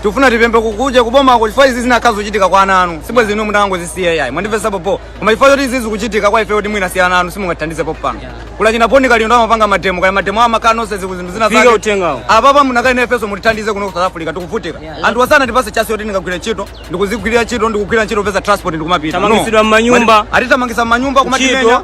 tikufuna tipembe kukuja kubomako chifukwa izi zinakhala zochitika kwa ana anu sibwenzi inu munangozisiya ayi mwandimvetsa pompo koma chifukwa choti izi zikuchitika kwa ife kuti mwina si ana anu simungathandize popano kula china poni kali ndo amapanga mademo kaya mademo amakhala nonse ziku zinthu zinazake Fika uthengawo. apapa munakali nafenso mutithandize kuno ku south africa tikuvutika anthu wasana tipatse chance yoti ndikagwira ntchito ndikuzigwirira ntchito ndikugwira ntchito pesa transport ndikumapita Tamangitsidwa m'manyumba. atithamangisa m'manyumba kumatimenya Ntchito.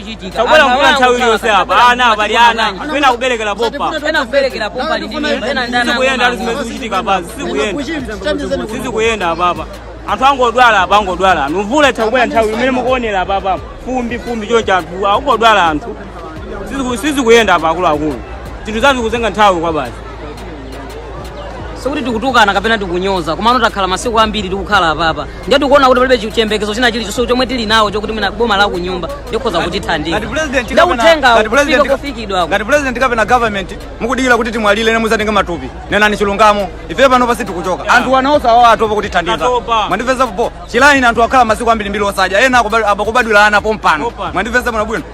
Itabwera mvula nthawi iliyonse apa. Ana abali ana. Kwina kuberekera pompa. Ena kuberekera pompa ndi mimba, ena ndi ana Sikuyenda ali zimene zikuchitika apa. Sikuyenda. Sizikuyenda apa apa. Anthu angodwala apa angodwala. Anthu mvula itha kubwera nthawi imene mukuonera apa apa. Fumbi fumbi choncho anthu angodwala anthu. Siziku- Sizikuyenda apa akuluakulu. Zinthu zathu kuzenga nthawi kwa basi. sikuti tikutukana kapena tikunyoza komano takhala masiku ambiri tikukhala apapa ndiye tikuona kuti palibe chi- chiyembekezo china chilichonse chomwe tili nawo chokuti mwina boma la kunyumba likhoza kutithandiza ngati president ndiye kapena- uthenga ngati ufike president- kofikidwako ngati president kapena government mukudikira kuti timwalire nde mudzatenge matupi nenani chilungamo ife pano sitikuchoka anthu a mnauza awa atopa kutithandiza Atopa. mwandimvetsa pompo chilaini anthu akhala masiku ambiri mbiri osadya ena akubad- akubadwira ana pompano Pompano. mwandimvetsa bwino bwino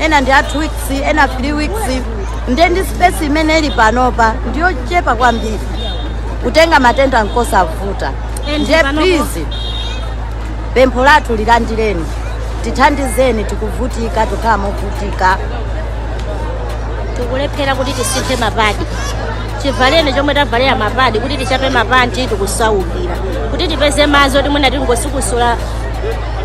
ena ndi a two weeks ena three weeks nde ndi space imene ili panopa ndiyochepa kwambiri kutenga matenda nkosavuta And nde please pempho lathu lilandireni tithandizeni tikuvutika tikhala movutika tikulephera kuti tisinthe mapadi chivalireni chomwe tavalera mapadi kuti tichape mapanti tikusaukira kuti tipeze madzi oti mwina tingosikusula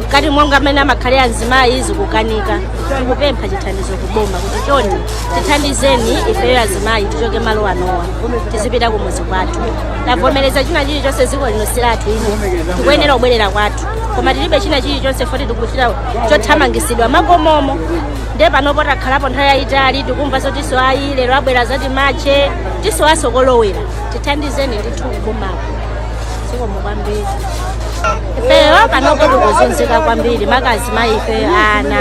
mkati monga amene amakhalira azimayi zikukanika tikupempha chithandizo kuboma kuti chonde tithandizeni ifeyo azimayi tichoke malo anowa tizipita kumuzi kwathu tavomereza china chilichonse ziko lino silathu lino tikuyenera kubwerera kwathu koma tilibe china chilichonse poti tikuchita chothamangisidwa m'makomomo nde panopo takhalapo nthawi yayitali tikumva zotiso ayi lero abwera za timachetiso asokolowera tithandizeni ndithu kubomako zikomo kwambiri ifeyo panopo tikuzunzika kwambiri maka azimayi ifeyo ana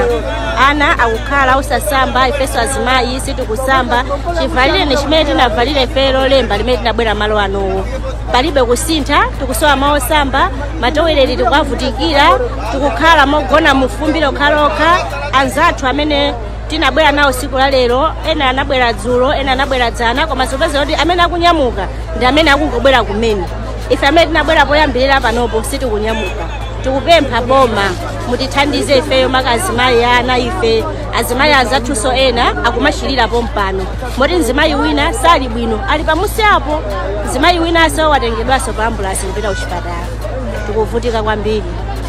ana akukhala osasamba ifeso azimayi sitikusamba chivalireni chimene tinavalira ifeyo lolemba limene tinabwera malo anowa palibe kusintha tikusowa malo osamba matoileti tikuwavutikira tikukhala mogona mufumbi lokhalokha anzathu amene tinabwera nawo siku la lero ena anabwera dzulo ena anabwera dzana koma zopeza kuti amene akunyamuka ndi amene akungobwera kumene ife amene tinabwera poyambirira panopo sitikunyamuka tikupempha boma mutithandize ifeyo maka azimayi ana ife azimayi anzathuso ena akumachilira pompano moti mzimayi wina sali bwino ali pamusi apo mzimayi winanso watengedwanso pa ambulasi kupita kuchipatala tikuvutika kwambiri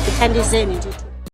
tithandizeni titi